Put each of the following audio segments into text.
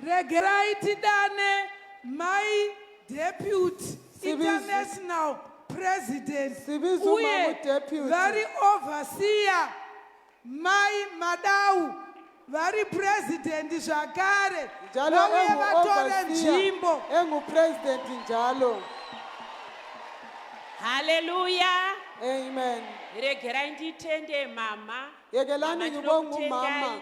Regerai tidane mai deputy international president uye vari overseer mai madau vari president zvakare vauye vatore nzvimbo engupresident njalo haleluya amen regerai nditende mama yekelani ngibonga umama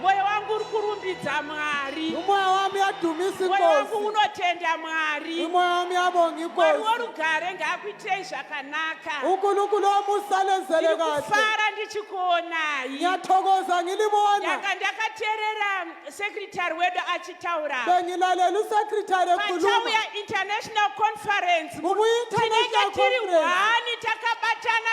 Moyo wangu uri kurumbidza Mwari. Moyo wangu yadhumisa Moyo wangu unotenda Mwari. Moyo wangu yabonga inkosi. Mwari worugare ngaakuitei zvakanaka. Unkulunkulu wamusalenzele kahle. Ndikufara ndichikuonai. Ngiyathokoza ngilibona. Ndaka ndakaterera secretary wedu achitaura. Bengilalela usecretary ekhuluma. Pachauya international conference. Mubuyi international conference. Tinenge tiri one takabatana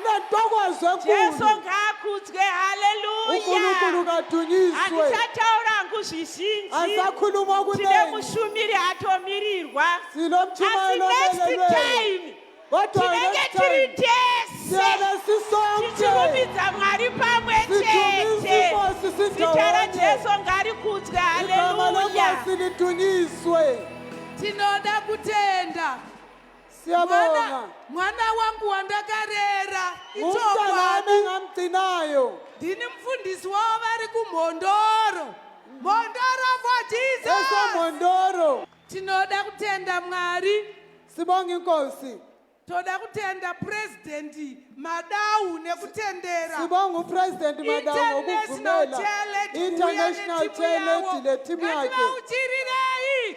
ndathokoza Jesu kulu ngaakudzwe, haleluya. ukulukulu ngatunyiswe Handichataura hangu zvizhinji. asakhuluma Tine kunengi mushumiri atomirirwa. sino Asi mtshumayelo next olelelweyo time kodwa tinenge next tiri time tese siyana sisonke tichirumidza Mwari pamwe Sidumise chete. Nkosi Zita sindawonye. raJesu ngarikudzwe, igama haleluya. lenkosi litunyiswe Tinoda kutenda Siyabonga. Mwana wangu wandakarera ichokwadi. Ngamgcinayo. Ndini mfundisi wavo vari kuMhondoro. Mhondoro for Jesus. Esa Mhondoro. Tinoda kutenda Mwari. Sibonga inkosi. Toda kutenda president Madau nekutendera. Sibonga upresident Madau ngokuvumela. International talent netimu yake. Ngativautirirei.